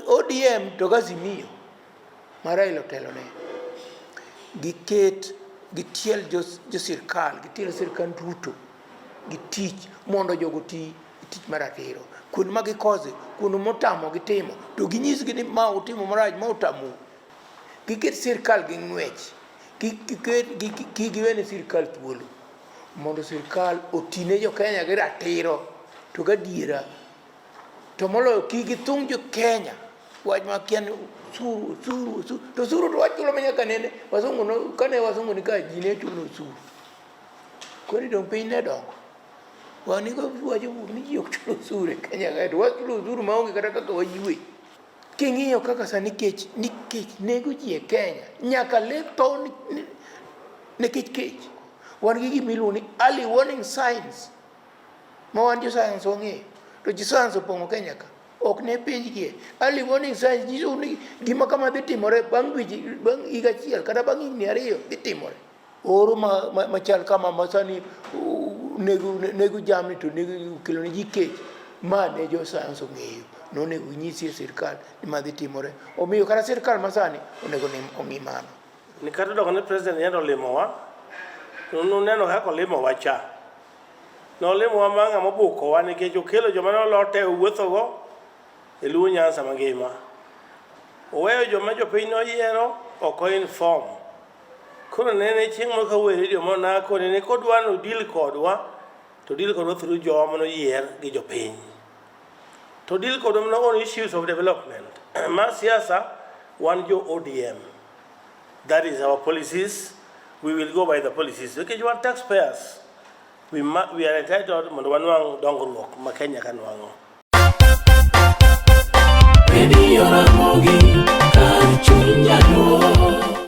ODM to gazimio ma Raila otelone giket gitiel josirkal gitiel sirkal duto gi tich mondo jogo ti tich mar atiro kuond ma gikoze kuond motamo gitimo to ginyisgi ni ma utimo marach ma utamu Giket sirkal gi ng'wech, kik giwene sirkal thuolo mondo sirkal otine jo Kenya gi ratiro to gadiera to moloyo kik githung' jo Kenya wach ma kia ni osuru osuru osuru to osuru to wachulo ma nyaka nene wasungu no kane wasungu ni ka ji ne chulo osuru koro dong piny ne dongo wan ni wacho ni ji ok chulo osuru e Kenya kae to wachulo osuru maonge kata kaka wayue King'iyo kaka sani kech nikech nego ji e Kenya, nyaka le tho nikech kech. Wan gi gima iluongo ni early warning signs ma wan jo sayans wang'eyo, to ji sayans opong'o Kenya ka ok ne penjgie. Early warning signs nyiso ni gima kama dhi timore bang' dweche, bang' higa achiel kata bang' higni ariyo dhi timore. Oro machal kama masani nego jamni to kelo ne ji kech, ma ne jo sayans ong'eyo nonego nyisi e sirkal ni ma dhi timore. Omiyo kata sirkal masani onego ong'i mano. Ni kata doko ne president yendo olimowa, nuneno kaka olimowa cha. Nolimowa ma ng'ama obukowa nikech okelo joma nolote owuothogo e Luo Nyanza mangima. Oweyo joma jopiny noyiero ok o inform. Koro nene chieng' moro kawuoyo e redio monako nene kodwa nodil kodwa to deal kodwa through jowa mano yier gi jopiny to deal kodwa mano on issues of development ma siasa wan jo ODM that is our policies we will go by the policies nikech okay, wan taxpayers we, we are entitled mondo wanwang' dongruok ma Kenya ka nwang'o Radio Ramogi, Kanchunjano.